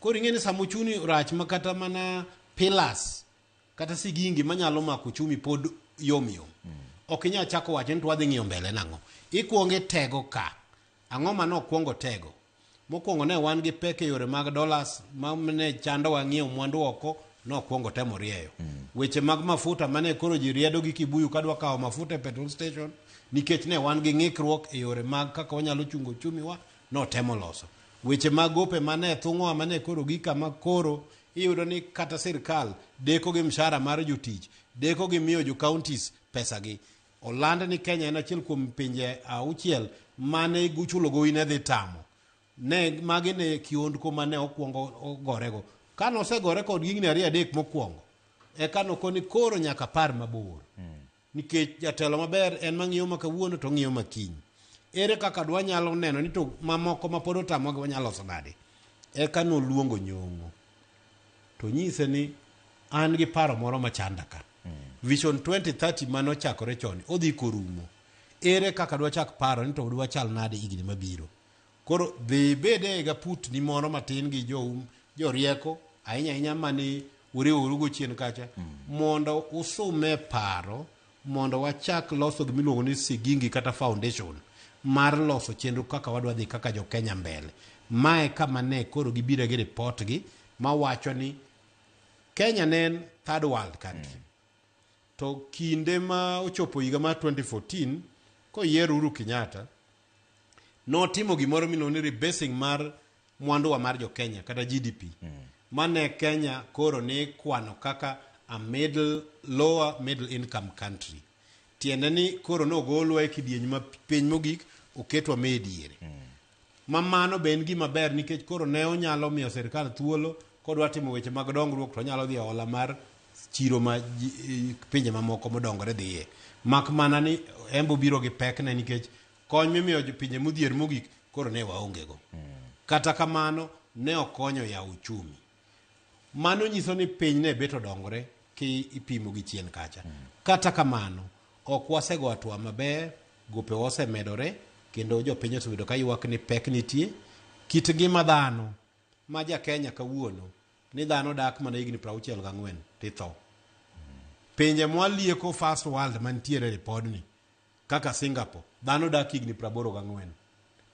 Koro ing'e ni sama ochuni rach ma kata mana pillars kata sigingi manyalo mako chumi pod yom yom. Ok inyal chako wacho ni to wadhi ng'iyo mbele nang'o. Ikuongo itego ka. Ang'o ma nokwongo tego? Mokwongo ne wan gi pek e yore mag dollars ma ne chandowa ng'iewo mwandu oko nokwongo temo rieyo. Weche mag mafuta mane koro ji riedo gi kibuyu kadwa kawo mafuta e petrol station nikech ne wan gi ng'ikruok e yore mag kaka wanyalo chungo uchumi wa notemo loso weche mag gope mane thung'oa mane koro gi kama koro iyudo ni kata sirkal deko gi mshahara mar jotich deko gi miyo jo counties pesagi oland ni Kenya en achiel kuom pinje auchiel mane guchulo gowi ne dhi tamo ne magi ne kiondko mane okwongo ogorego kane osegore kod gigni ariyo adek mokwongo eka nokoni koro nyaka par mabor Nikech jatelo maber en mang'iyo ma kawuono to ong'iyo ma kiny. Ere kaka dwanyalo neno ni to mamoko ma pod otamogi wanyalo loso nade? Eka noluongo Nyong'o to nyise ni an gi paro moro machanda ka. Vision 2030 mane ochakore chon odhi korumo. Ere kaka dwachak paro ni to dwachal nade higni mabiro? Koro dhi ibed e gaputni moro matin gi jou jorieko ahinya ahinya mane uriworugo chien kacha mondo usume paro mondo wachak loso gima iluongo ni sigingi kata foundation mar loso chenro kaka wadwa dhi kaka jo Kenya mbele. Mae kama ne koro gibiro gi report gi mawacho ni Kenya ne en third world country. To kinde ma ochopo higa mar 2014 koyier Uhuru Kenyatta notimo gimoro miluongo ni rebasing mar mwanduwa mar jo Kenya kata GDP mm. mane Kenya koro ni kwano kaka a middle lower middle income country tiende ni koro nogolwa e kidieny ma piny mogik oketwa me diere mm. ma mano be en gima ber nikech koro ne onyalo miyo sirkal thuolo kodwa timo weche mag dongruok to onyalo dhi e ola mar chiro ma pinje mamoko modongore dhiye. Mak mana ni embe obiro gi pekne nikech kony mimiyo pinje modhier mogik koro ne waongego. Kata kamano, ne okonyo yawo uchumi. Mano nyiso ni piny ne bet odongore kipimo gi chien kacha. Kata kamano, ok wasego atwa maber, gopewa osemedore, kendo jopiny osebedo ka ywak ni pek nitie. Kit ngima dhano. ma ja Kenya kawuono ni dhano dak mana higni prauchiel gang'wen to itho. Pinje mwalieko first world mantiere e ripodni kaka Singapore, dhano dak higni praboro gang'wen.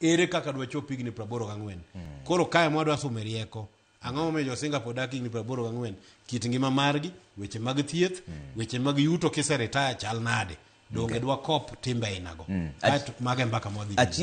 Ere kaka dwachop higni praboro gang'wen? Koro kae mwa dwa sume rieko. Ang'o momiyo jo Singapore dak higni praboro gang'wen? Kit ngima margi, weche mag thieth, weche mag yuto kiseretaya chal nade? Donge dwakop timbe ainago? Kaeto mago e mbaka mwadhi bedo. Achiel